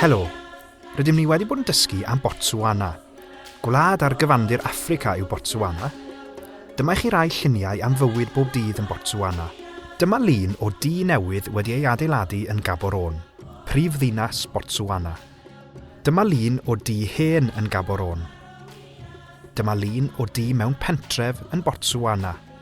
Helo! Rydym ni wedi bod yn dysgu am Botswana. Gwlad ar gyfandir Affrica yw Botswana. Dyma i chi rai lluniau am fywyd bob dydd yn Botswana. Dyma lun o dŷ newydd wedi ei adeiladu yn Gaborone, prif ddinas Botswana. Dyma lun o dŷ hen yn Gaborone. Dyma lun o dŷ mewn pentref yn Botswana.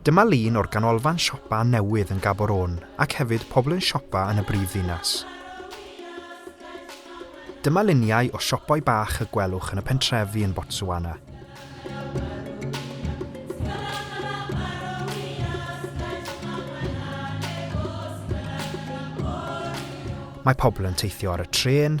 Dyma lun o'r ganolfan siopa newydd yn Gaborone ac hefyd pobl yn siopa yn y brif ddinas. Dyma luniau o siopau bach y gwelwch yn y pentrefi yn Botswana. Mae pobl yn teithio ar y trên,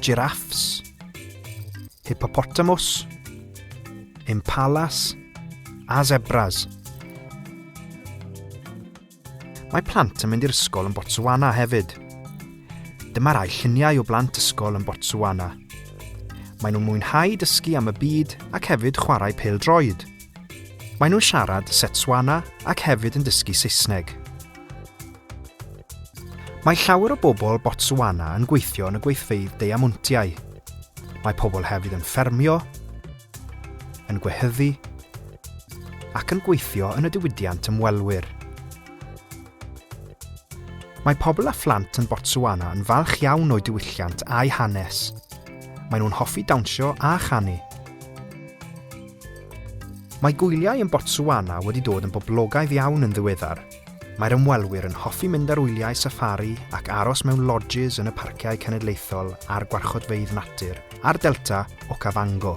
Giraffes. Hippopotamus. Impalas. A zebras. Mae plant yn mynd i'r ysgol yn Botswana hefyd. Dyma rai lluniau o blant ysgol yn Botswana. Mae nhw'n mwynhau dysgu am y byd ac hefyd chwarae pel droed. Maen nhw'n siarad Setswana ac hefyd yn dysgu Saesneg. Mae llawer o bobl Botswana yn gweithio yn y gweithfeydd deiamontiau. Mae pobl hefyd yn ffermio, yn gwehyddu ac yn gweithio yn y diwydiant ymwelwyr. Mae pobl a phlant yn Botswana yn falch iawn o'i diwylliant a'i hanes. Maen nhw'n hoffi dawnsio a chanu. Mae gwyliau yn Botswana wedi dod yn boblogaidd iawn yn ddiweddar. Mae'r ymwelwyr yn hoffi mynd ar wyliau saffari ac aros mewn lodges yn y parciau cenedlaethol a'r gwarchodfeydd natur a'r delta Okavango.